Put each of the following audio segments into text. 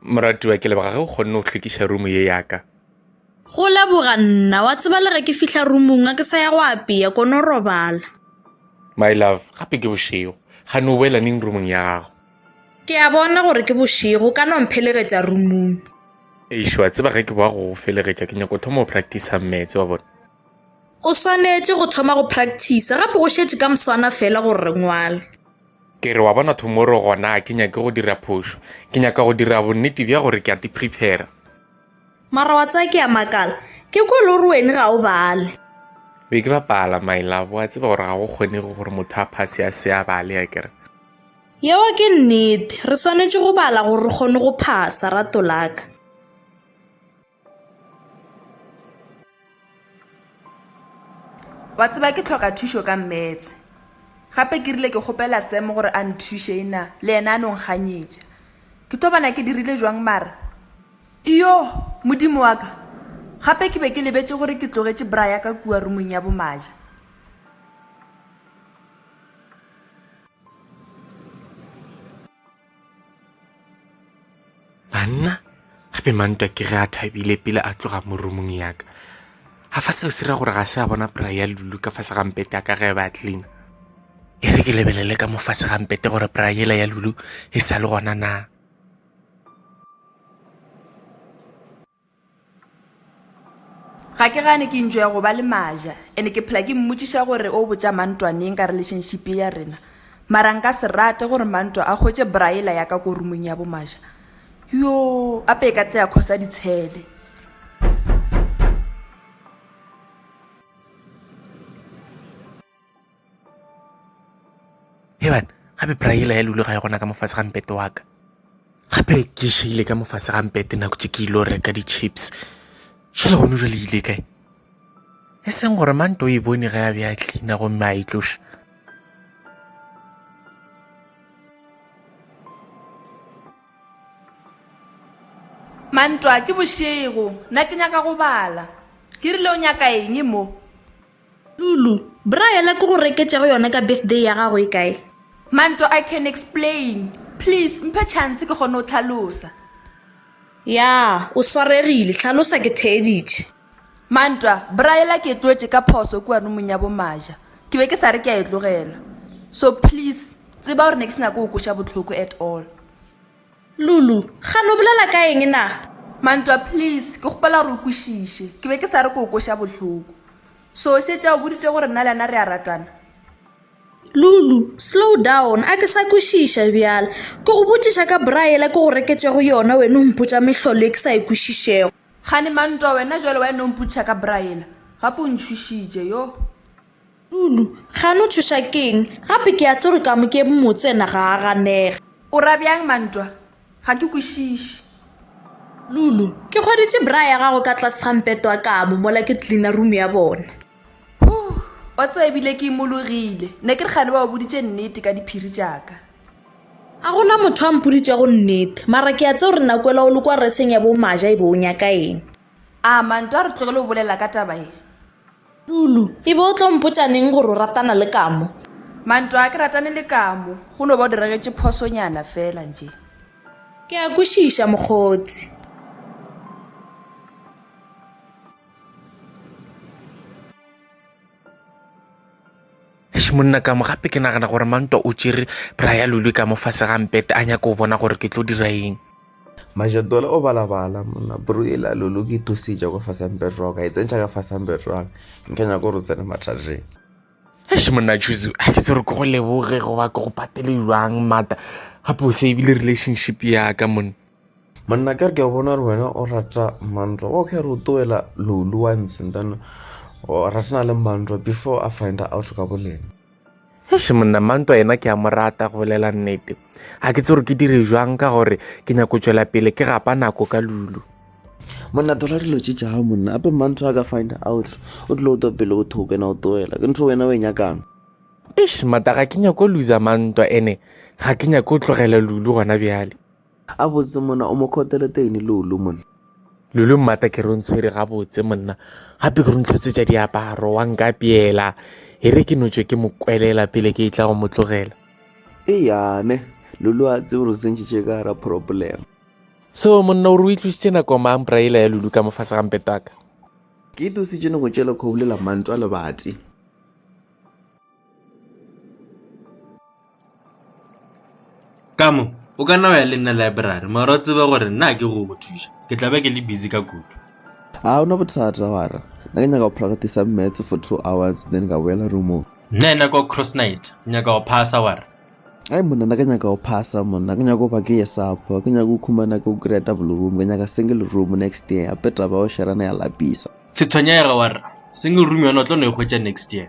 moratiwa ke leboga ge o kgonne go hlwekiša rumo ye yaka go leboga nna wa tseba le ge ke fihla rumong a ke sa ya go apea kono robala my love gape ke bošego ga ne o boela neng rumong ya gago ke a bona gore ke bošego ka no mphelegetša rumong ešo wa tseba ge ke boa go felegetša ke nyako thoma o practice metse wa bona O swanetše go thoma go practice gape go šetše ka moswana fela gore re ngwale. Ke re, Wa bona tomorrow gona a ke nyake go dira phošo. Ke nyaka go dira bonnete bja gore ke a tiprepara. Mara wa tseba ke a makala, ke kwe le gore wene ga o bale. Be ke bapala, my love. Wa tseba gore ga go kgonege gore motho a phase a se a bale, a ke re. Yeo ke nnete. Re swanetše go bala gore re kgone go phasa, rato la ka. Wa tseba ke tlhoka thušo ka mmetse. Gape ke rile ke kgopela Sam gore a nthuše ena le yena a no nkganyetša. Ke tlo bona ke dirile jwang mara? Iyoh! Modimo wa ka! Gape ke be ke lebetše gore ke tlogetše bra ya ka kua rumong ya bomaja. Banna, gape mantwa ke ge a thabile pele a tloga mo roomong ya ka. A fa seo se ra gore ga se a bona pry ya Lulu ka fase ga mpete ya ka ge ba cleaner. E re ke lebelele ka mo fase ga mpete gore pry yela ya Lulu e sa le gona na. Ga ke gane ke enjoya go ba le Maja and ke phela ke mmotšiša gore o botša Mantwa neng ka relationship ya rena. Mara nka se rate gore Mantwa a hwetše bra ela ya ka ko roomong ya bo Maja. Yoo, ape e ka tla ya khosa ditshele. heban gape praela ya lule ga ya gona ka mofase ga mpete wa ka gape ke šeile ka mofase ga mpete nako tše ke ile reka di-chips šele gone jwa le ile kae e seng gore mante o e bone ge a be a tlina gomme a e tloša mantwa ke bošego nna ke nyaka go bala ke rile o nyaka eng mo Lulu, Bra yela ke go reketšego yona ka birthday ya gago e kae? Manto, I can explain. Please mphe chance ke kgone go hlalosa. Ya, o swaregile. Hlalosa ke theeditše. Mantwa, Bra yela ke e tlogetše ka phoso kua rumong ya bo Maja. Ke be ke sa re ke a e tlogela. So please tseba gore ne ke se nyake go go kweša bohloko at all. Lulu, Kgane o bolela ka eng na? Mantwa, Please, ke kgopela gore o kwešiše. Ke be ke sa re ke go kweša bohloko. So, o šetše a o boditše gore nna le yena re a ratana? Lulu, Slow down, a ke sa kwešiša bjale. Ke go botšiša ka bra yela ke go reketšego yona wena o mpotša mehlolo e ke sa e kwešišego. Kgane, Mantwa, wena bjale wa e no mpotšiša ka bra yela? Gape o ntšhošitše, yoh. Tulu, Gane o tšhoša ke'ng? Gape ke a tseba gore Kamokeng motse yena ga a ganege. O ra bjang Mantwa? Ga ke kwešiše. Lulu, Ke hweditše bra ya gago ka tlase ga mpeto wa kamo mola ke cleaner room ya bona. Huh, wa tseba e bile ke imologile. Ne ke re gane ba o boditše nnete ka diphiri tša ka. A go na motho a mpoditšego nnete, mara ke a tseba gore Nakwela o le kwa reseng ya bo Maja e be o nyaka eng. A Mantwa a re tlogele go bolela ka taba ye? Tulu, E be o tlo mpotša neng gore o ratana le Kamo? Mantwa, A ke ratane le Kamo, go no ba o diregetše phosonyana fela nje. Ke a kwešiša mokgotsi. Eish monna ka mo gape ke nagana gore mantwa o tšere bra ya lulwe ka mo fase ga mpete a nyaka go bona gore ke tlo dira eng Majatola o balabala monna bro e la lulu ke thusitša kwa fasampe rock a e tsentšha ka fasampe rock nke nyaka gore o tsene mathateng Eish monna Juzu a ke tsere ke go leboge goba ke go patele jwang mata gape o savile relationship ya ka monna monna ka re ke a bona gore wena o rata mantlo wa kgare o toela lolu once and then o ratana le mantlo before a find out ka bolena eish monna mantlo yena ke a mo rata go bolela nnete ga ke tse gore ke dire jwang ka gore ke nyako tswela pele ke gapa nako ka lulu monna tola dilo tse tša gago monna ape mantlo a ka find out o tlile o twa pele o thoko ena o toela ke ntho wena o e nyakang eish mata ga ke nyako lusa mantwa ene ga ke nyako tlogela lulu gona bjale Gabotse monna o mo khotele teine Lulu monna. Lulu mmata ke re o ntshwere gabotse monna gape ke re o ntlhotswetsa diaparo wa nka peela e re ke notswe ke mo kwelela pele ke e tla go mo tlogela. E yane Lulu a tsebe gore tsentšitše ka gara problem. So monna o re o itlositše nako mang braela ya Lulu ka mofase ga mpetwaka. Ke itositše nako tšela kgobulela mantwa lebati. ka mo o ka nna wa ya le nna library mara o tsebe gore nna ke go go thuša ke tla be ke le busy ka kudu a o na bothata wara na ke nyaka go practice maths for two hours then ka boela roomong nna ena ka cross night nyaka go phasa wara ai monna na ke nyaka go phasa monna ke nyaka go ba ke ye sapo ke nyaka go khumana ke go kry-a double room ke nyaka single room next year ape taba o sherana ya lapisa setshwenyega wara single room yona o tlo no e hwetša next year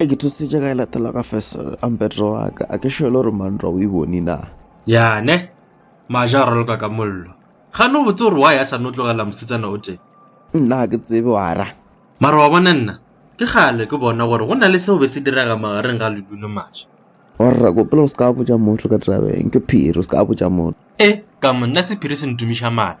e ke thusitše ka e latela ka feso ampetro wa ka a ke šele gore mantlwa o e bone na yane maja a roloka ka mollo gane o botse gore wa ya sa no tlogela mosetsana o tee nna ke tsebe wara mara wa bona nna ke gale ke bona gore go na le seo be se direga magareng ga ledu le maša warra kopela o se ka botja motho ka tabeng ke phiri o se ka botja motho e ka mo nna sephiri se ntumiša mala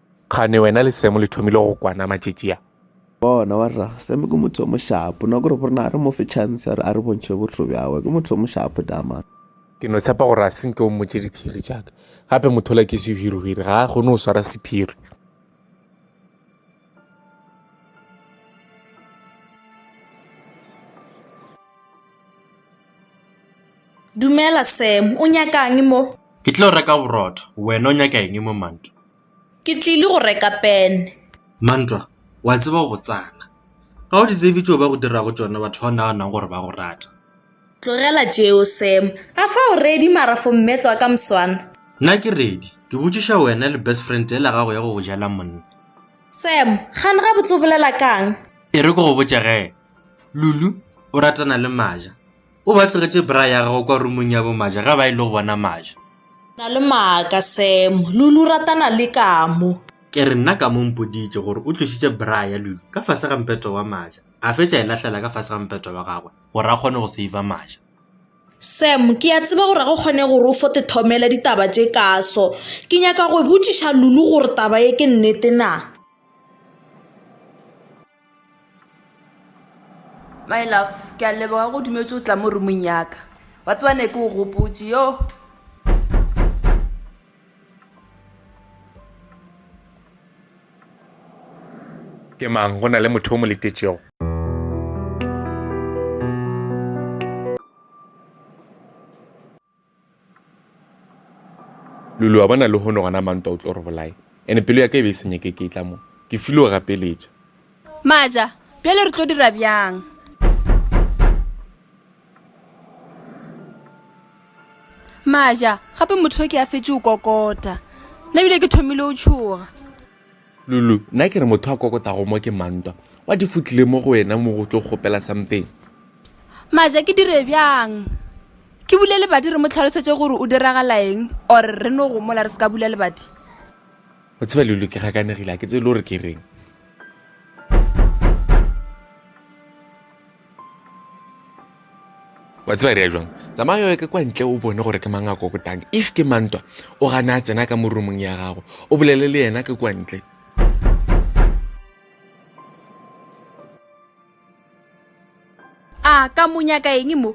Kgane wena le Semo le thomile go kwana matšetši a? Bona wa rra, Semo ke motho o mošapo, nako re borena a re mo fe chance a re a re bontšhe botho bjawe, ke motho o mošapo dama. Ke no tshepa gore a se nke o mmotše diphiri tšaka, gape mothola ke sehwirihwiri, ga a kgone go swara sephiri. Dumela Sam, o nyaka'ng mo? Ke tlile go reka borotho, wena o nyaka eng mo Mantwa? Ke tlile go reka pene. Mantwa, wa tseba o botsana, ga o di tsebe tšeo ba go dirago tšona batho ba o naganago gore ba go rata. Tlogela tšeo Sam, a fa o ready mara for mmetswa ka mswana? Nna ke ready, ke botšiša wena le best friend yela gago ya go go jela monna. Sam, gane gabotse o bolela ka'ng? E re ke go botše ge, Lulu o ratana le Maja? O ba tlogetše bra ya gagwe kwa rumong ya bomaja ge ba ile go bona maja. Na le maaka, Sam. Lulu ratana le Kamu. Ke re nna Kamu o mpoditše gore o tlošitše bra ya Lulu ka fase ga mpeto wa maja, a fetša e lahlela ka fase ga mpeto wa gagwe gore a kgone go seiva maja. Sam, ke a tseba gore ga go kgone gore o fote thomela ditaba tše kaso. Ke nyaka go botšiša Lulu gore taba ye ke nnete na. My love, ke a leboga go dumetso tla mo roomong yaka. Wa tseba ne ke o gopotse, yoh. Ke mang? Go na le motho o mo letetšego? Luli, Wa bona lehono gona Mantwa o tlo re bolaye ene pelo ya ka e be e sa nyake ke e tla mo, ke file o gapeletša. Maja, Bjale re tlo dira bjang? Maja, Gape motho yo ke a fetše o kokota. Nna bile ke thomile o tšhoga. Lulu, Nna ke re motho a kokotago mo ke mang ntwa? What if o tlile mo go wena mo go tlo kgopela something? Maja, Ke dire bjang? Ke bule lebati re mo tlhalosetše gore o diragalaeng or re no gomola re se ka bula lebati? O tseba Lulu ke gakanegile ga ke tsebe le gore ke reng. wa tseba re ya jwang tsamaya yo ke kwa ntle o bone gore ke mang a kokotang if ke mantwa o gana a tsena ka mo roomong ya gago o bolele le yena ke kwa ntle a ka monyaka eng mo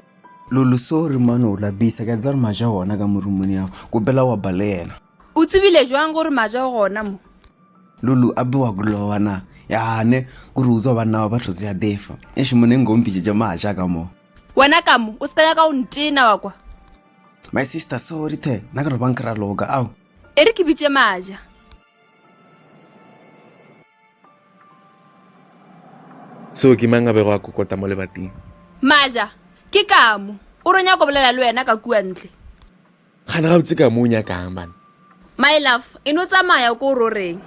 lolo so re mane o la bisa ke a tsaya re maja ona ka mo roomong ya gago kopela wa ba le yena o tsebile jwang gore maja o gona mo lulu a bewa kulowa na yane kuri uzwa banna ba batho zia defa eshe mone ngompitše tša maja ka mo wena ka mo o se ka nyaka o ntena wa kwa my sister sorry the na ka re bang kra loka ao e re ke bitše maja so ke mang a bego a kokota mo lebating maja ke kamo o ronya ko bolela le wena ka kua ntle Kgane gabotse ka mo o nyakang bana. My love, e no tsamaya ko o ro reng?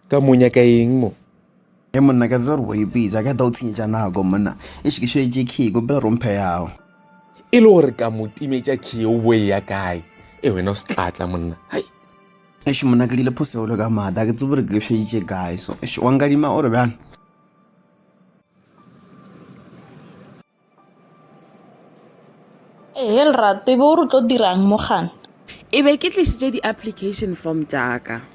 Ka mo o nyaka eng mo? He monna ka tsere o ipitsa ka ta o tshenyetša nako monna. E se ke šetše key ko pele romphe yago. E le gore ka mo timetša key o bo e ya kae? E wena o se tlatla monna. Hai. Eish monna ke dile phosegolo ka mata ke tsebore ke sheditše kae so eish wa nkadima o re bjang Ehe lerato ebe o re tlo dirang mo gana e be ke tlisitse di-application form jaaka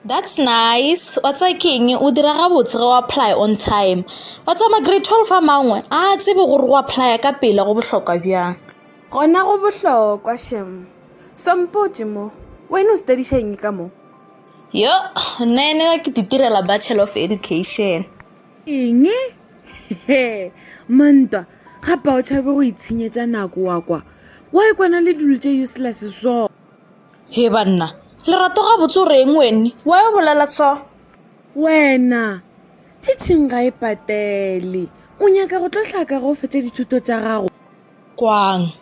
that's nice wa tsa keng o dira gabotse ge o apply on time wa tsa ma-grade twelve a mangwe a tsebe gore go apply ka pele go bohlokwa bjang gona go bohlokwa shem sompotse mo wena o studišeng ka mo yo nna ene ke ditirela bachelor of education eng he mantwa gapa o tšhabe go itshenyetša nako wa kwa wa e kwana le dilo tše useless so he banna lerato ga botse o reng wene wa e bolela so wena tšhitšhing ga e patele o nyaka go tlo tlhaka go fetša dithuto tša gago kwang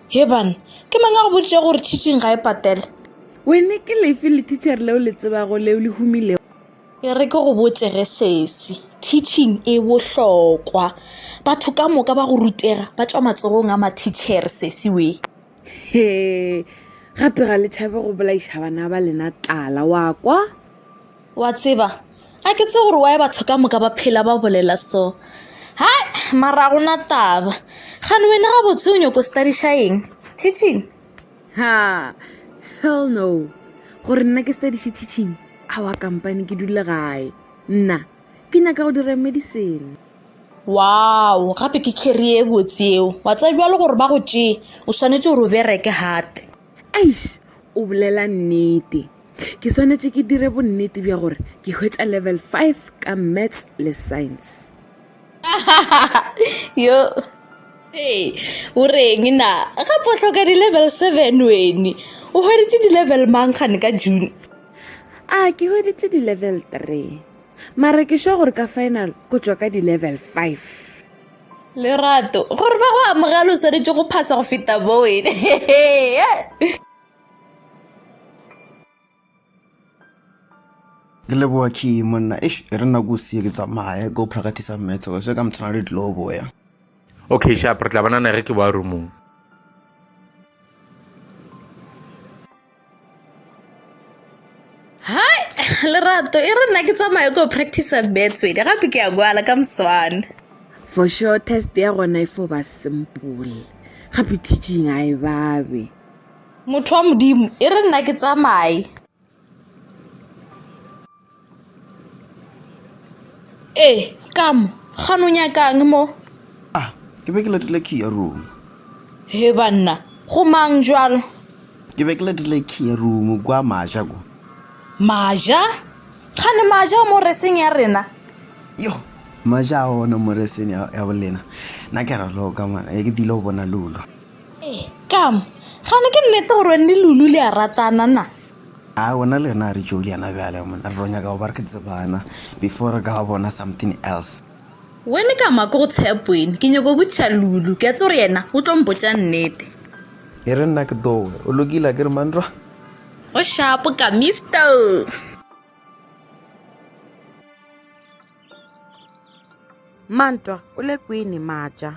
he bana ke mang a go boditše gore tšhitšhing ga e patele wene ke lefe le teacher leo le tsebago leo le humilego E re ke go botše ge sesi, teaching e bohlokwa. Batho ka moka ba go rutega ba tšwa matsogong a mathitšhere sesi we. He, gape ga le tšhabe go bolaiša bana ba lena tlala, wa kwa? Wa tseba, a ke tse gore wae batho ka moka ba phela ba bolela so. Hai, mara gona taba. Gane wena gabotse o nyoko studiša eng? Teaching? ha hell no gore nna ke study se teaching awa kampane ke dule gae nna ke nyaka go dira medicine wow gape ke carrie e botse eo wa tsa jwa le gore ba go tšee o swanetse gore o bereke hate eish o bolela nnete ke swanetse ke dire bonnete bja gore ke hwetša level five ka maths le science yo hey o reng na gape o tlhoka di-level seven wene o hweditše di-level mang gane ka june a ke hweditše di-level three mare ke sure gore ka final ko tswa ka di-level five lerato gore ba go amogela o swanetše go phasa go feta bo wene ke leboa key monna ish e re nako sie ke tsamaye go practice maths go se ka mtshwana le tlo boya okay sharp re tla bona na ge ke boa roomong hai lerato e re nna ke tsamaye go practice maths wena gape ke ya kwala ka moswana for sure test ya gona e fo ba simple gape teaching a e babe Motho wa Modimo, e re nna ke tsamaye. Ee, ka mo, ga no nyakang mo? Ah, ke be ke letile key ya room. He banna, go mang jwalo? Ke be ke letile key ya room kwa maja ko. Maja? Ga ne maja mo reseng ya rena? Yo, maja a ona mo reseng ya bolena. Na ke ra loka mwana, e ke dilo bona lulo. Ee, kam, gane ke nnete gore wene le Lulu le a ratana na? A gona le yena a re Juliana bjale mona re tlo nyaka go ba re tsebana before re ka ba bona something else. Wene ka maka go tshep wene ke nyaka go botšiša Lulu ke a tse gore yena o tlo mpotša nnete. E re nna ke dowe o lokile a ke re manrwa. Go shapo ka Mister. Mantwa o le kwene maja.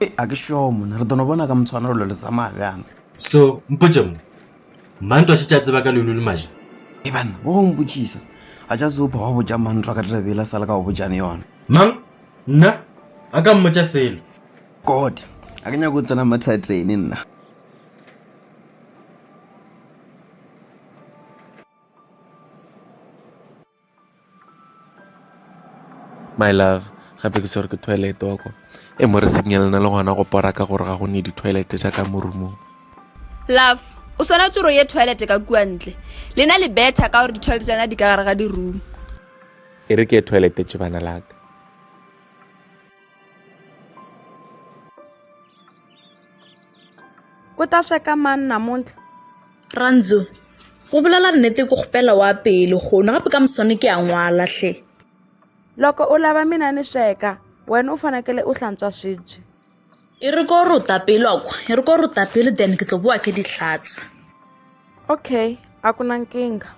Ee, a ke šoo monna. Re tlo no bona ka motshwanelo lo le tsamaya bjang. So, mpotše mo. Mantwa a šetše a tseba ka leolo le maja. Ee, banna, wa go mpotšisa. A tša se opha wa botša Mantwa ka taba yela sa le ka go botšane yona. Mang? Nna? A ka mmotša selo. God, a ke nyake go tsena mathateni nna. My love, gape ke swere ke toilet wa kwa. E mo re signal na le gona go pora ka gore ga go ne di toilet tša ka mo roomong. Love, o swana tsoro ye toilet ka kua ntle. Lena le better ka gore di toilet tsana di ka gare ga di room. E re ke toilet tšebana la ka. o ta sweka mang namuntlha ranzo go bolela nnete ke kgopela wa pele gono gape ka moswane ke a ngwala hle loko u lava mina ni sweka wena u fanekele u hlantswa swibye e ri ko ri u ta pele wa kwa e ri ko ri u ta pele then ke tlo bowa ke di hlatswa okay a ku na nkingha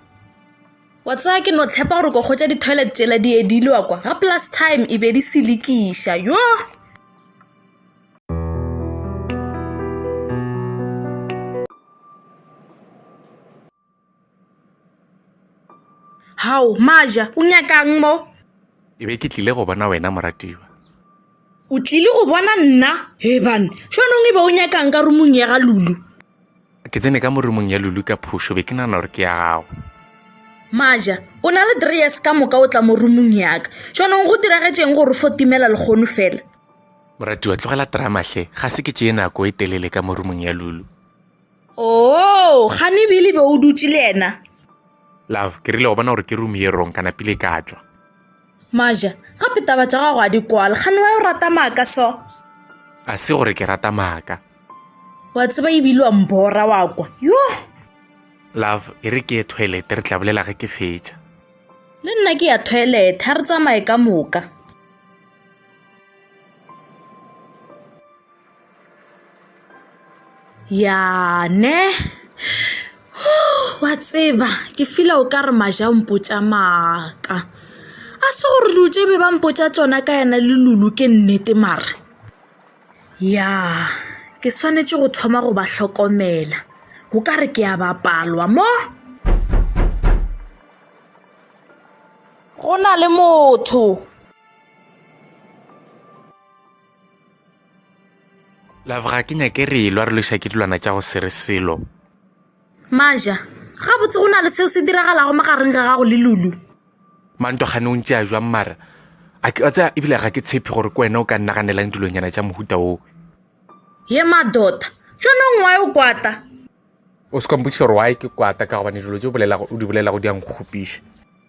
wa tsaya ke no tshepa gore ko kgotsa di-toilet tsela di edile wa kwa ga plus time e be di selekiša yo Hao, Maja, o nyakang mo? Ke be ke tlile go bona wena moratiwa. O tlile go bona nna? Hebane, jwanong e be o nyakang ka rumong ya ga Lulu? Ke tsene ka mo rumong ya Lulu ka phošo, be ke nana gore ke ya gago. Maja, o na le three years ka moka o tla mo rumong yaka. Jwanong go diragetšeng gore fo timela lekgono fela? Moratiwa, tlogela drama hle. Ga se ke tšee nako e telele ka mo rumong ya Lulu. Oo, gane bile be o dutše le yena. Love, ke rile wa bona gore ke room ye rong kana pile ka tšwa. Maja, gape taba tša gago a di kwale. Gane wa yo rata maaka so. A se gore ke rata maaka. Wa tseba ebile wa mbora wa kwa. Yo! Love, e re ke ye toilet re tla bolela ge ke fetša. Le nna ke ya toilet, ha re tsamaye ka moka. ya ne wa tseba ke fila o ka re maja mpotša maaka a se gore dilo tše be ba mpotša tsona ka yana le lulu ke nnete mara ya ke swanetše go thoma go ba hlokomela go ka re ke a bapalwa mo go na le motho Leboga ke nyake re elwa re loša ke dilwana tša go se re selo. Maja, gabotse go na le seo se diragalago magareng ga gago le Lulu. Mantogane o ntše a jwang mara a ke tsa ebile ga ke tshepe gore ke wena o ka nnaganelang dilonyana tša mohuta oo. Ye madota, tšonong wae o kwata. O se kompotšiša gore wae ke kwata ka gobane dilo tše o di bolelago di a nkgopiša.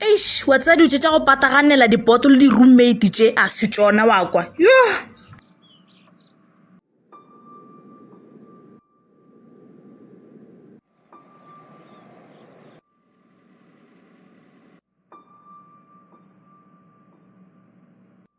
eish wa tsaya dilo tse tša go pataganela dipoto le di-roommate tše a se tsona wa kwa yo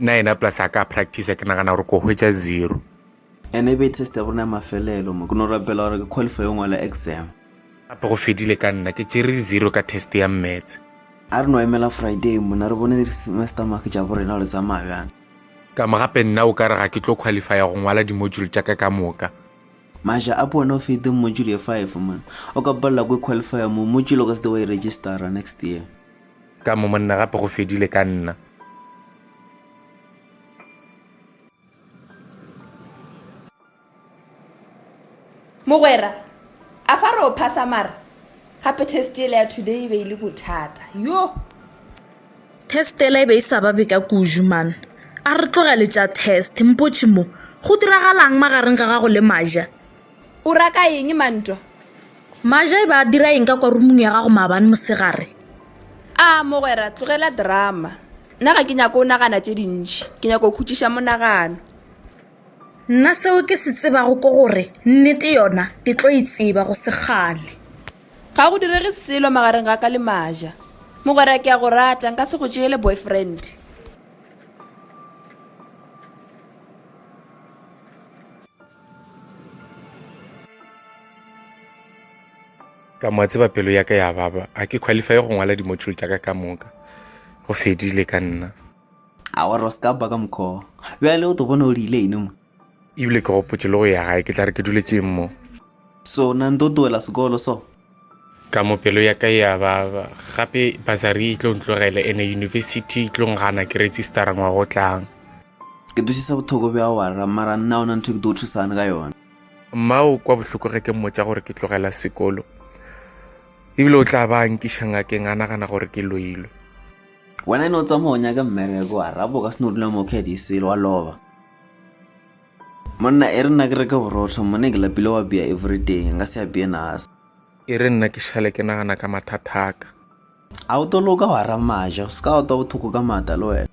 nna yena plus a ka practice ke nagana gore ko hwetša zero ene e be test ya borona ya mafelelo mo ke no rapela gore ke qualify yo ngwala exam gape go fedile ka nna ke tšere zero ka test ya mmets a re no emela friday mona re bone semester make tša borena gore tsamaya bjana ka mo gape nna o ka re ga ke tlo qualifya go ngwala dimodule tša ka ka moka maja a pone o fete module ye five mona o ka palela ko qualifya mo module o ka se te wa e registera next year Ka mo monna gape go fedile ka nna. Mogwera, a fa re o phasa mara gape testele ya today e be e le bothata yo testele e be e sa ba beka kuju man a re tlogele tša test mpotšhe mo go diragalang magareng ga gago le maja O ra ka eng ma ntwa? Maja e ba a dira eng ka kwa rumung ya gago maabane mosegare? A, mogwera, tlogela drama. Nna ga ke nyako o nagana tše dintši. Ke nyako o khutšiša monagano. Nna seo ke se tsebago ko gore nnete yona ke tlo e tseba go sekgale. Ga go direge selo magareng ga ka le Maja. Mogwera, ke a go rata, nka se go tšeele boyfriend. ka mo tseba pelo ya ka ya baba a ke qualify go ngwala di-module tša ka ka moka go fedile ka nna a wa roska ba ka mokho bjale o to bona o rile ine mo ebile ke gopotse le go ya gae ke tla re ke duletšeng mo so na nto towela sekolo so ka mo pelo ya ka ya ba gape basari e tlo ntlogele ene university e tlo ngana ke registera ngwaga o tlang ke dusisa bothoko bja wara mara nna ona ntho ke tlo thusane ka yona mmao kwa bohloko ge ke mmotsa gore ke tlogela sekolo ebile o tla ba nkiša ngakeng a nagana gore ke loilwe wena e ne o tsamaya o nyaka mmereko wa rabo ka se no dula mo kgedi selo wa loba Monna, e re nna ke reke borotho, mone ke lapile wa bea everyday, nka se apeye nasa. E re nna ke šale ke nagana ka mathathaka. A o to loka wa ramaja, o se ka wa twa bothoko ka mata le wena.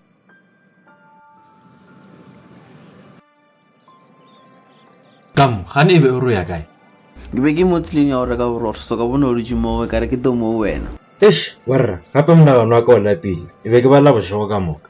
Tam, gane e be o re o ya kae? Ke be ke mo tseleng ya go reka borotho, so ka bona o dutše moo, ka re ke to mo wena. Eish, warra, gape monagano wa ka o lapile, e be ke bala bošego ka moka.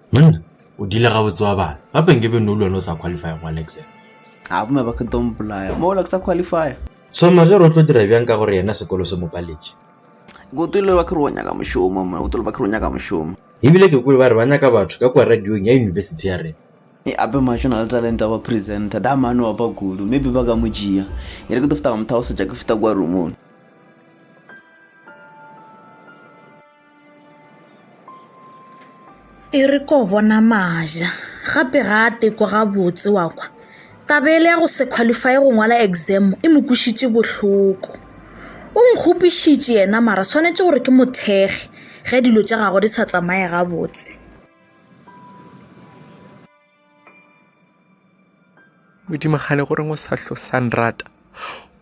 Mna, O dile gabotse wa bala. Gape nke be no le wena o sa qualify go Alexa. A bomme ba ke tlo mpolaya. Mo la ke sa qualify. Soma, Ge re o tlo dira bjang ka gore yena sekolo se mo paletše? Ke o tole ba ke re o nyaka mošomo. Mna, O tole ba ke re o nyaka mošomo. Ebile ke kwele ba re ba nyaka batho ka kua radiong ya yunibesithi ya rena. E ape Majo o na le talente ya go ba presenter. Da mane o opa kudu. Maybe ba ka mo tšea. E re ke tlo feta ka mo thagosetša ke feta kua roomong. e re ko bona maja gape ga a teko gabotse wa kwa taba ele ya go se qualify go ngwala exam e mo kwišitše bohloko o nkgopišitše yena mara swanetše gore ke mothekge ge dilo tša gago di sa tsamaye gabotse modimagane goreng o sa tlo sa nrata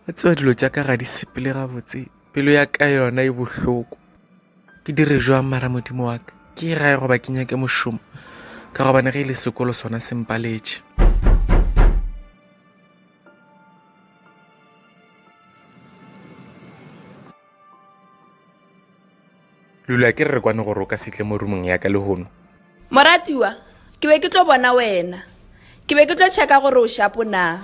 o tseba dilo tša ka ga di sepele gabotse pelo ya ka yona e bohloko ke dire jwang mara modimo wa ka ke e gae goba ke nyake mošomo ka gobane ge e le sekolo sona se mpaletše Lula, ke re re kwane gore o ka setle mo rumong ya ka le hono. Moratiwa, ke be ke tlo bona wena. Ke be ke tlo checka gore o shapo na.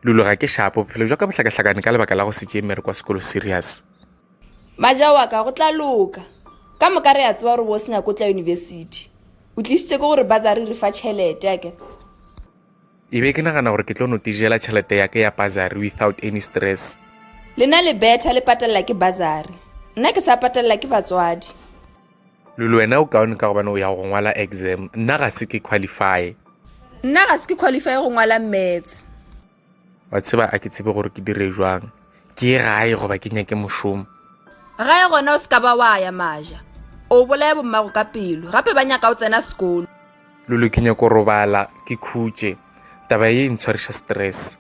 Lulu, ga ke shapo, bophelo jwa ka bohlakahlakane ka lebaka la go se tšee mere kwa sekolo serious. Maja wa ka, go tla loka. Ka moka re a tseba gore bo o se nyako tla university. O tlisitse ke gore bazari re fa tšhelete, a ke? E be ke nagana gore ke tlo no tijela tšhelete ya ke ya bazari without any stress. Lena le betha le patelela ke bazari. Nna ke sa patelela ke batswadi. Lulu wena o kaone ka gobane o ya go ngwala exam. Nna ga se ke qualify. Nna ga se ke qualify go ngwala maths. Wa tseba a ke tsebe gore ke dire jwang. Ke ye gae goba ke nyake mošomo. Gae gona o se ka ba wa ya maja. O bolaya bommago ka pelo. Gape ba nyaka o tsena sekolo. Lulu, ke nyako robala ke khutše taba ye e ntshwariša stress.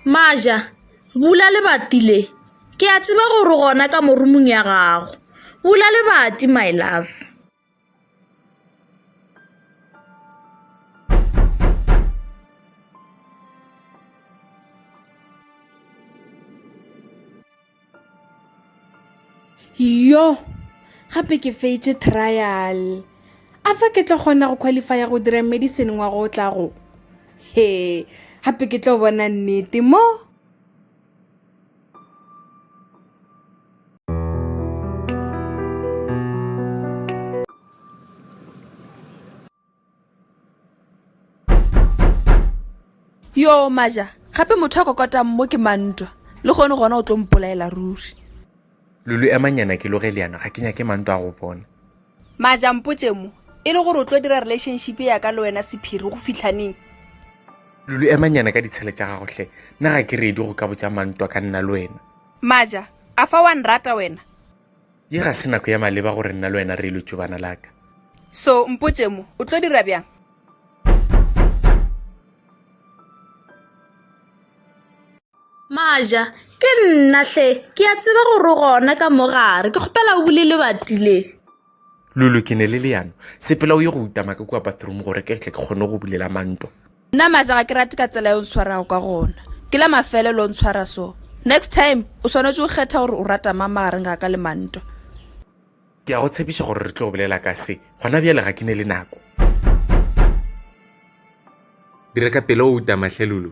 Maja, bula lebati le ke a tseba gore gona ka morumong ya gago bula lebati my love. yo gape ke feitše trial a fa ke tlo kgona go qualifya go dira medicine ngwa go tla go he gape ke tlo bona nnete mo yo maja gape motho a kokotang mo ke mantwa le kgone gona o tlo mpolaela ruri lulu emanyana ke loge leano ga ke nyake mantwa a go bona Maja, mpotše mo e le gore o tlo dira relationship ya ka le wena sephiri go fihlaneng. Lulu, emanyana ka ditshele tša gago hle, nna ga ke reedi go ka botša mantwa ka nna le wena. Maja, a fa wa nrata wena? Ye ga se nako ya maleba gore nna le wena re ilo tšobana la ka. So, mpotše mo o tlo dira bjang? Maja, Ke nna hle, ke a tseba gore gona ka mo gare, ke kgopela o bule lebati le. Lulu, Ke ne le leano, sepela o ye go uta maka kua bathroom gore ke tle ke kgone go bulela manto. Nna Maja ga ke rate ka tsela e o ntshwarago ka gona, ke la mafelelo o ntshwara so. Next time o swanetše go kgetha gore o rata mang magareng ga ka le manto. Ke a go tshepiša gore re tlo bolela ka se gona bjale ga ke ne le nako. Dira ka pelo o uta mahlelulu.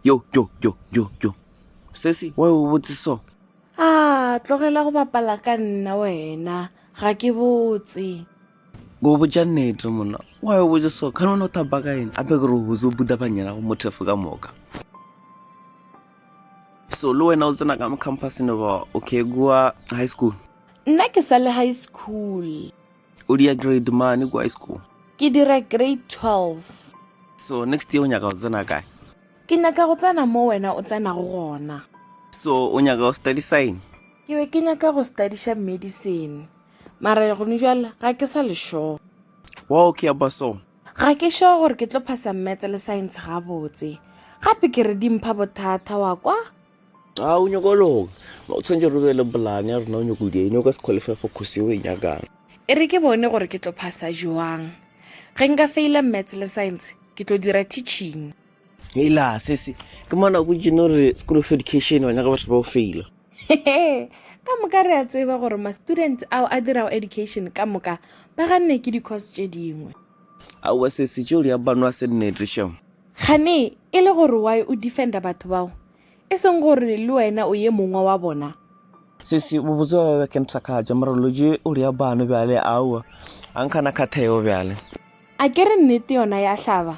Yo, yo, yo, yo, yo. Sesi, wa o botse so. Ah, tlogela go bapala ka nna wena. Ga ke botse. go botša nnete monna wa yo botse so kana o ne o thapa ka ene ape ke re o botse o buta banyela go mothefo ka moka so le wena o tsena ka mo campusne ba okay kua high school nna ke sa le high school o dia grade mane kua high school ke dira grade 12 so next year o nyaka go tsena kae ke nyaka go tsena mo wena o tsenago gona so o nyaka go study sign ke be ke nyaka go studyša medicine mara gone jwale ga ke sa lešoo wa o ke ya ba so ga ke sure gore ke tlo phasa mmetse le science gabotse gape ke re dimpha bothata wa kwa ga o nyoko loga o tshwanetse re be le bolane ya rena o nyoko dine o ka se qualify for kgosi yo e nyakang e re ke bone gore ke tlo phasa joang ge nka faila mmetse le science ke tlo dira teaching Hela sesi ke mona go jeno re school of education wa nyaka batho ba o faila. Hehe, ka moka re a tseba gore ma-students ao a dirago education ka moka ba ganne ke di-course tše dingwe Aowa sesi tšeo di a bano a se nnete sho. kgane e le gore why o defenda batho bao e seng gore le wena o ye mongwe wa bona Sesi bobotse wa ba ke nthakatša mara lo je o di a bano bjale aowa a nkgana kgatheo bjale. a ke re nnete yona ya hlaba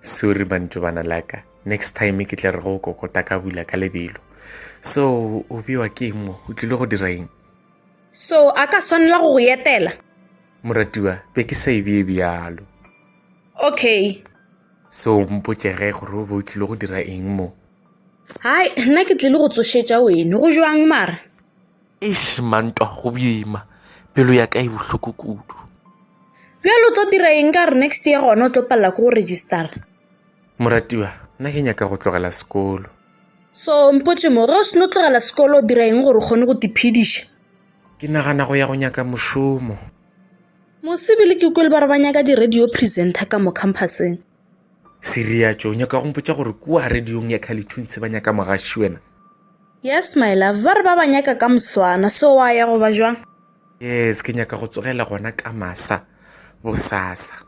sorry mantšu bana laka next time ke tla re go kokota ka bula ka lebelo so o bewa ke eng mo o tlile go dira eng so a ka swanela go go etela moratiwa be ke sa e bee bjalo okay so mpotsege gore o be o tlile go dira eng mo hai nna ke tlile go tsošetša weno go jwang mara Eish mantwa go bima pelo ya ka e bohloko kudu bjalo o tlo dira eng ka gore next year gona o tlo palela ko go registera moratiwa nna ke nyaka go tlogela sekolo so mpotse mo ge o seno tlogela sekolo o dira eng gore o kgone go tiphediša ke nagana go ya go nyaka mošomo mosebele ke kwele ba re ba nyaka di-radio presenter ka mo campuseng Siriatšo, o nyaka go mpotša gore kua radiong ya Khalithuntse ba nyaka mogaši wena? Yes, my love, ba re ba ba nyaka ka moswana, so wa ya go ba jwang? Yes, ke nyaka go tsogela gona ka masa bosasa.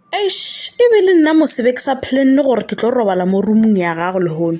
Eish, e be le nna mose be ke sa planne gore ke tlo robala mo roomong ya gago lehono.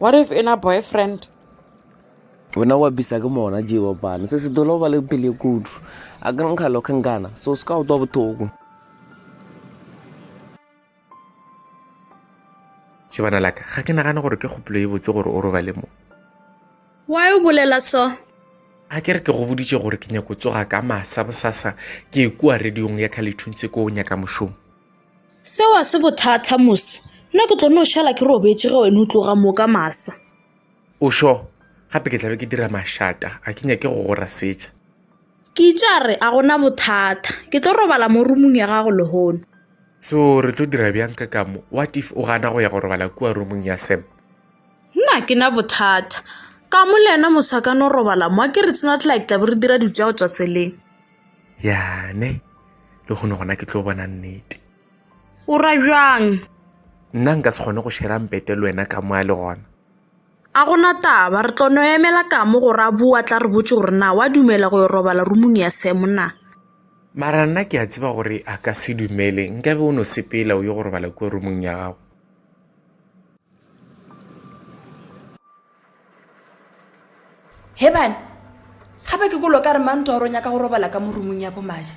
what if in a boyfriend wena wa bisa ke mona jewa bana se se dolo ba le pele kudu a ka nkga lokhe nkana so se ka utwa bothoko tšebana laka ga ke nagane gore ke kgopolo e botse gore o robale mo why o bolela so a ke re ke go boditše gore ke nyako tsoga ka masa bosasa ke e kua radiong ya khalethuntseko o nyaka mošomo Seo a se bothata moso. Nna ke tlo no šala ke robetše ge wena o tloga moka masa. O sho gape ke tlabe ke dira mašata a ke nyake go gora setša. Ke itša re a gona bothata. Ke tlo robala mo rumung ya gago lehono. So re tlo dira bjang ka kamo? What if o gana go ya go robala kua rumung ya Sam? Nna ke na bothata. Kamo le yena moso a ka no robala mo a ke re tsena tlake tlabe re dira dilo tša go tšwa tseleng. yane le kgone gona ke tlo bona nnete o ra bjang nna nka se kgone go shera mpete le wena ka moa le gona a gona taba re tlo no emela ka mo go ra bua tla re botse gore na wa dumela go yo robala rumung ya semo na mara nna ke a tseba gore a ka se dumele nkabe o no sepela o yo go robala kua rumong ya gago He bana, gape ke kolo ka re mang Toro nyaka go robala ka morumung ya bo Maja?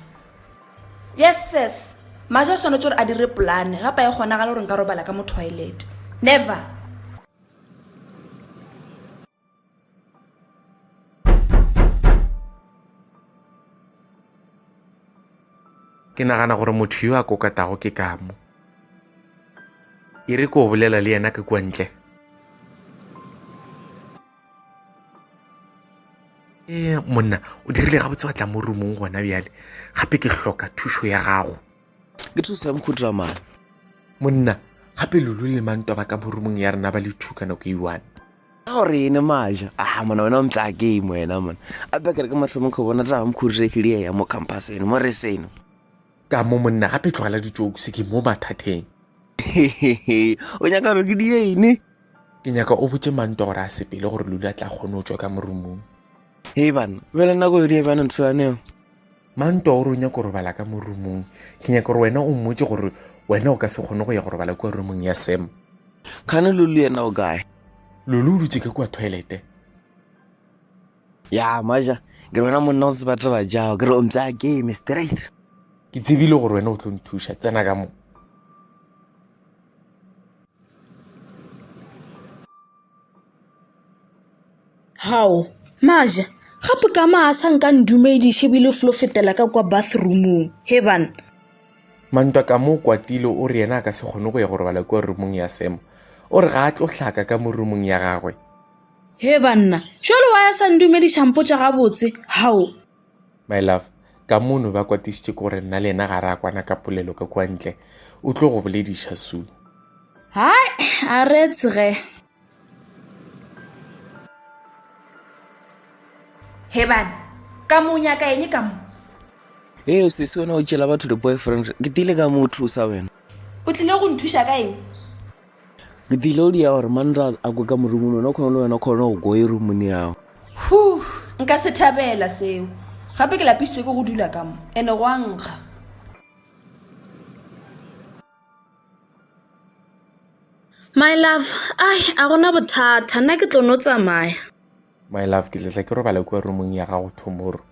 Yes ses, Maja o swanetše gore a dire polane gapa e kgonagale gore nka robala ka mo toilet. Never! Ke nagana gore motho yo a kokatago ke kamo. E re ko bolela le yena ka kua ntle. E monna, o dirile gabotse wa tla mo rumong gona bjale. Gape ke hloka thušo ya gago. Ke thuso ya mokhutra mane. Monna, gape lulu le manto ba ka mo rumong ya rena ba le two ka nako e one. Go re ene majo a ah, mona wena o mtla game wena mona a bekere ke mahlomo kho bona taba mokhurirefile ya mo campus eno mo re seno ka mo monna gape tlogela ditšoku se ke mo mathateng o nyaka gore ke di ene ke nyaka o botse manto gore a sepele gore lula tla kgone o tswa ka morumong e bana bele nako yodi ya bjana ntho yaneo Manto o re o nyaka go robala ka mo rumong. Ke nyaka gore wena o mmotse gore wena o ka se kgone go ya go robala kua rumong ya Sam. Kgane Lulu yena o kae? Lulu o dutse ka kua toilete. Ya, maja, ke re wena monna o tseba taba jago, ke re o mpsa game straight. Ke tsebile gore wena o tlo nthuša, tsena ka mo. Hao, Maja, gape ka maa a sa nka ndumediše bile flo fetela ka kwa bathroomong, he bana. Mantwa ka mo kwatile o re yena a ka se kgone go ya go robala kua roomong ya Sam. O re ga a tlo hlaka ka mo roomong ya gagwe. He banna, jwale wa ya sa ndumediša mpotša gabotse, hao. My love, ka mono ba kwatišitše ke gore nna le yena ga re a kwana ka polelo ka kua ntle. O tlo go bolediša soon. Hai, a re tsge. hebane ka mo nyaka eng ka mo ee o sese wena o tšela batho di-boyfriend ke tile ka mo o thusa wena o tlile go nthuša ka eng ke tile o dia gore manra a kwe ka morumong wena o kgone le wena o kgone go koe rumone yago hu nka se thabela seo gape ke lapisitse ke go dula ka mo ene go a nkga My love, ai a gona bothata nna ke tlo no tsamaya. My love, ke tletla ke robala kua roomong ya gago tomorrow.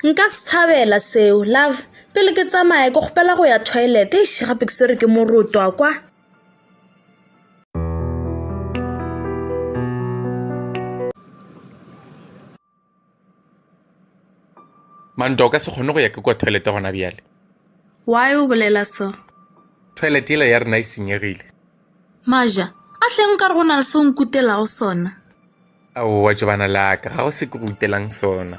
Nka se thabela seo love, pele ke tsamaya ke kgopela go ya toilet eish gape ke swere ke morotwa kwa. Mando, o ka se kgone go ya ke kwa toilete gona bjale. Why o bolela so? Toilet yela ya rena e senyegile. Maja, a hleng ka re go na le se o nkutelago sona. Ao wa tšobana laka, ga go se ke go utelang sona.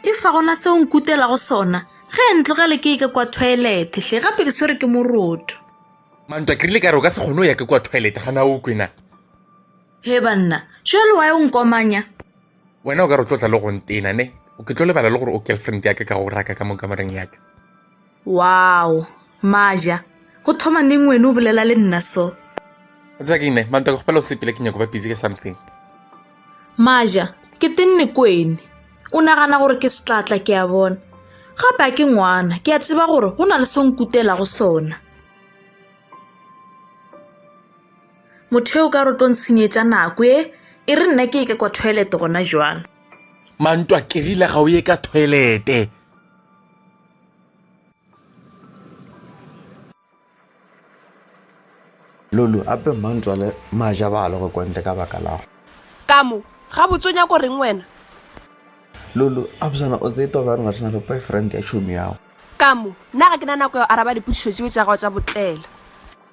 E fa gona se o nkutelago sona, ge e ntlogele ke eke kwa toilet, hle gape ke swere ke moroto. Mantwa, ke rile ka re o ka se kgone o ya ke kwa toilet, gana o kwena. He banna, jwale wa e o nkomanya? wena o ka re o tlo tla le go ntena ne ke tlo lebala le gore o girlfriend yaka ka go raka ka mo kamoreng yaka wow maja go thoma neng wene o bolela le nna so o tseba ke ine mantaka gopela o sepele ke nyako ba busy ka something maja ke tenne kwene o nagana gore ke setlatla ke a bona gape a ke ngwana ke a tseba gore go na le se nkutelago sona Motho eo ka rotong senyetša nako e, e re nna ke e ke kwa toilet gona jwalo. Mantwa kerile ga o ye ka toilete. Lulu, ape Mantwa le maja ba le go kwantle ka baka lago. Ka mo, gabotse o nyako reng wena? Lulu, absana o tsee toba rena rena le boyfriend ya tšhomi yago. Ka mo, nna ga ke na nako ya go araba dipotšišo tšeo tša gago tša botlela.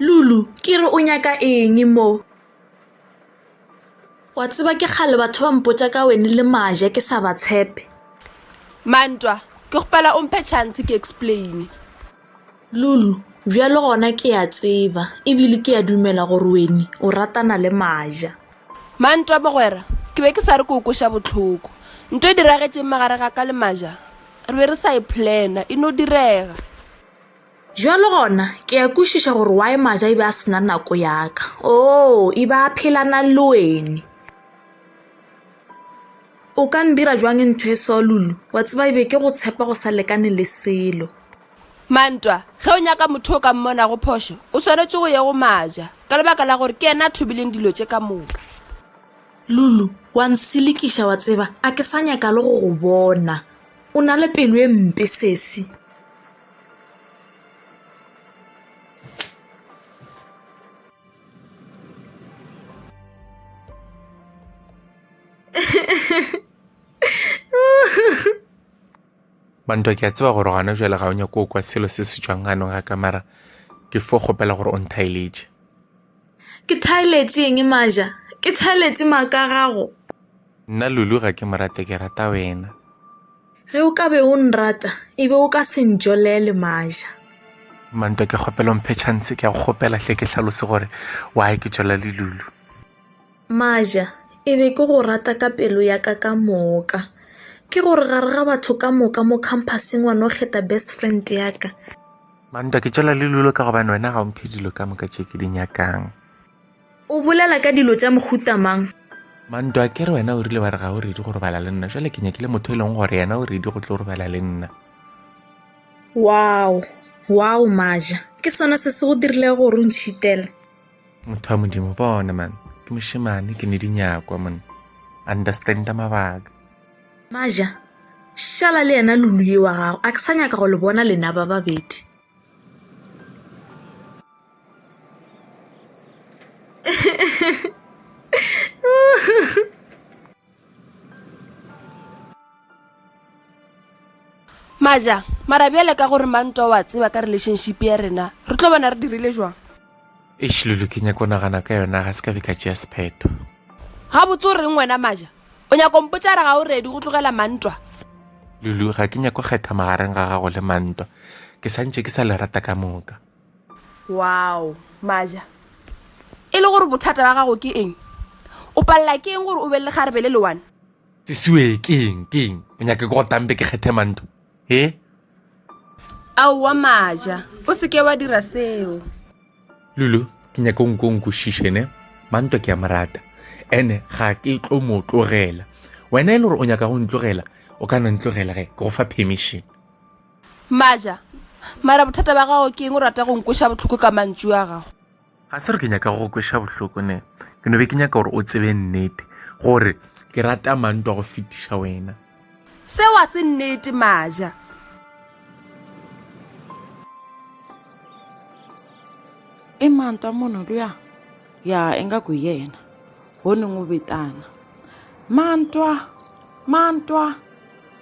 Lulu, ke re o nyaka eng mo? Wa tseba ke kgale batho ba mpotša ka wene le maja ke sa ba tshepe. Mantwa, ke gopela o mphe chance ke explain. Lulu, bjalo gona ke a tseba ebile ke a dumela gore wene o ratana le maja. Mantwa, Mogwera, ke be ke sa re ke o kweša bohloko. Nto e diragetšeng magareng ga ka le Maja? Re be re sa e plana, e no direga. Bjalo gona, ke a kwešiša gore why Maja e be a se na nako ya ka. Oo, e be a phelana le wene. O ka ndira bjang ntho e so, Lulu? Wa tseba e be ke go tshepa go sa lekane le selo. Mantwa, ge o nyaka motho o ka mmona go phošo, o swanetše go ye go maja, ka lebaka la gore ke yena a thobileng dilo tše ka moka. Lulu, wa nselekiša wa tseba, a ke sa nyaka le go go bona. O na le pelo e mpe sesi. Bantwa ke a tseba gore gana jale ga o nyako o kwa selo se se tšwang gano ga ka mara ke fo kgopela gore o nthaeletše. Ke thaeletše eng maja? Ke thaeletše maaka gago. Nna Lulu ga ke morate ke rata wena. Ge o ka be o nrata e be o ka se ntšolele maja. Mantwa ke kgopela o mphe chance ke a go kgopela hle ke hlalose gore why ke tšola le Lulu. Maja, e be ke go rata ka pelo ya ka ka moka. Ke gore gare ga batho ka moka mo khamphaseng wa no kgetha best friend ya ka. Mantwa, ke tšwela le lulo ka gobane wena ga o mphe dilo ka moka tše ke di nyakang. O bolela ka dilo tša mohuta mang? Mantwa, ke re wena o rile wa re ga o redi go robala le nna, jale ke nyakile motho e leng gore yena o redi go tlo robala le nna. Wow! Wow, Maja! Ke sona se se go dirilego gore o ntšhitele? motho wa modimo bona man ke mošemane ke ne di nyakwa mone understanda mabaka maja šala le yena lulu ye wa gago a ke sa nyaka go le bona lena ba babedi maja mara bjale ka gore manto wa tseba ka relationship ya rena re tlo bona re dirile jwang ešilulu ke nyako nagana ka yona ga se ka be ka tšea sephetho ga botse o reng wena maja o nyako mpotsa re ga o redi go tlogela mantwa lulu ga ke nyako kgetha magareng ga gago le mantwa ke santše ke sa le rata ka moka Wow, Maja. E le gore bothata ba gago ke eng? O palela ke eng gore o be le kgarebe le lewane? Sisiwe, ke eng, ke eng? O nyake ke go tambe ke kgethe manto? He? Aowa Maja, o se ke wa dira seo. Lulu, ke nyake o nko o nkwešiše ne? Manto ke a morata. Ene ga ke tlo mo tlogela. Wena e le gore o nyaka go ntlogela, o ka no ntlogela ge ke go fa permission. Maja, mara bothata ba gago ke eng o rata go nkweša bohloko ka mantšu a gago? Ga se re ke nyaka go kweša bohloko ne, ke no be ke nyaka gore o tsebe nnete gore ke rata mantwa go fetiša wena. Seo a se nnete Maja. I mantwa munhu luya ya ingaku hi yena ho ni n'wi vitana mantwa mantwa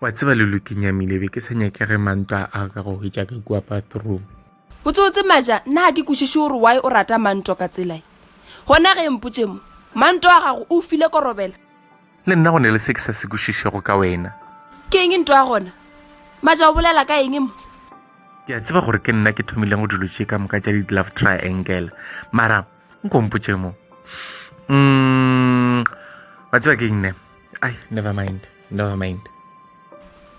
wa tseba le lokinyamile be ke sa nyake ge manto a aga go hwetša ka kua bathroom botsotse maja nna ga ke kwešiše gore wy o rata manto ka tselae gona ge mpotse mo manto a gago o file korobela le nna go ne le se ke sa se kwešišego ka wena ke eng nto ya gona maja o bolela ka eng mo ke a tseba gore ke nna ke thomileng go dilo tše ka moka tša di-love triangle mara nkompotše mo mm, wa tseba ke nne ai never mind never mind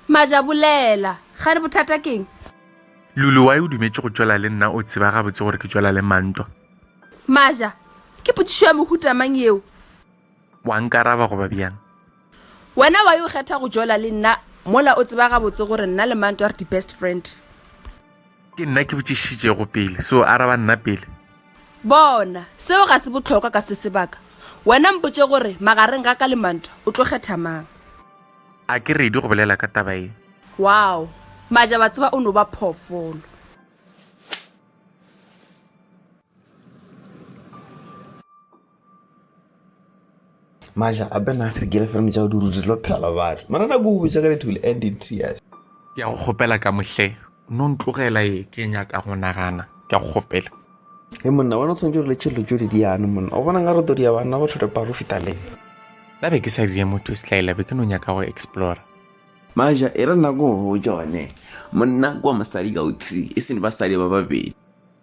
maja bolela ga re bothata keng lulu wa e o dumetse go tšwela le nna o tseba gabotse gore ke tšwela le mantwa maja ke potsišo ya mohutamang eo wa nkaraba goba bjang wena wa yo kgetha go jola le nna mola o tseba gabotse gore nna le manto re di-best friend ke nna ke botšišitšego pele so araba nna pele bona seo ga se botlhokwa ka se sebaka wena mpotse gore magareng ga ka le manto o tlo kgetha mang a ke redi go bolela ka taba e wow maja ba tseba o no ba phoofolo maja a be na se re kere fela tšao di rute lo phela batho mara na go botsa ka dithule and in tears ke ya go kgopela ka mohle no ntlogela e ke nyaka go nagana ke ya go kgopela e monna bona o tshwanetse re le tšhelelo tšo di diane monna o bona nka re todi ya banna go tlhorepa go feta leng la be ke sa dire motho se tlaela be ke no nyaka go explora maja e re nako go jone monna kwa mosadi ka o tsi e sene basadi ba babedi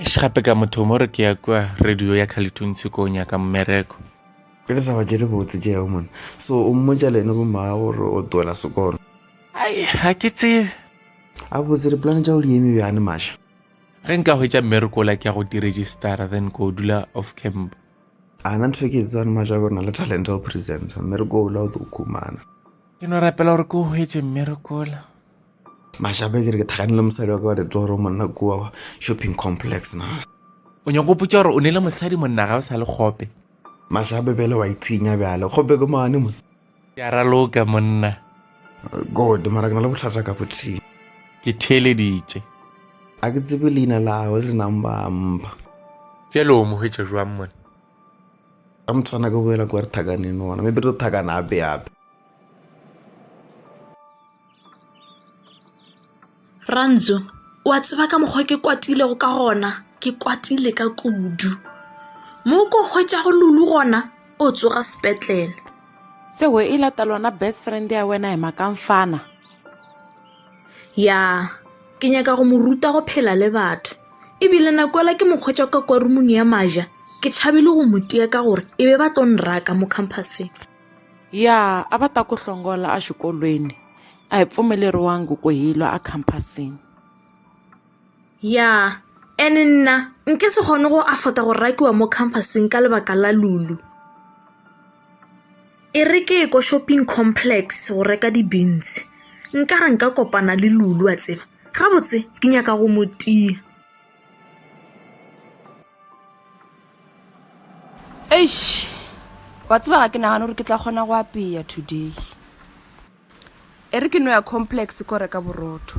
eish gape ka motho mo re ke ya kua radio ya khalethuntshe ko o nyaka mmereko ke ditaba tše di botse tše yago mone so o mmotša le ene bomaa gore o twela sekolo ai ga ke tsebe a botse dipolane tša go di eme bjane maša ge nka hwetša mmereko la ke ya go diregistara then ko dula off camp a na ntho ke tsebane maša gore na le talent ya go presenta mmereko ola o tlo khumana ke no rapela gore ke o hwetse mmerekola Mašape ke re ke thakane le mosadi wa ka wa re tlo gore monna kua shopping complex na o nyako potsa gore o ne le mosadi monna ga o sa le kgope mašape bele wa itshinya bjale kgope ke mane mo ke a raloka monna god mara ke na le botlhatsa ka bothing ke theeleditše a ke tsebe leina lago le nang ba mpa bjale o mo hwetša jwang monna ka mothwana ke boela kwa re thakaneng ona maybe re tlo thakana ape ape Rantso, o a tseba ka mokgwa ke kwatilego ka gona ke kwatile ka kudu mo ko hwetšago lulu gona o tsoga sepetlele sewe e lata lona best friend ya wena ema ka mfana ya ke nyaka go mo ruta go phela le batho ebile nakoela ke mokgwetša ka kwa rumong ya maja ke tšhabile go mo tia ka gore e be ba tlo nraka mo campuseng Ya a va ta ku hlongola exikolweni a hi pfumeleriwangi ku hi lwa ekhampasini. Ya ene nna nke se kgone go afota go rakiwa mo khampasing ka lebaka la Lulu. E re ke ye ko shopping complex go reka di-beans nkare nka kopana le Lulu wa tseba, gabotse ke nyaka go mo tia. eish wa tseba ga ke nagane gore ke tla kgona go apeya today e re ke no ya complex ko reka borotho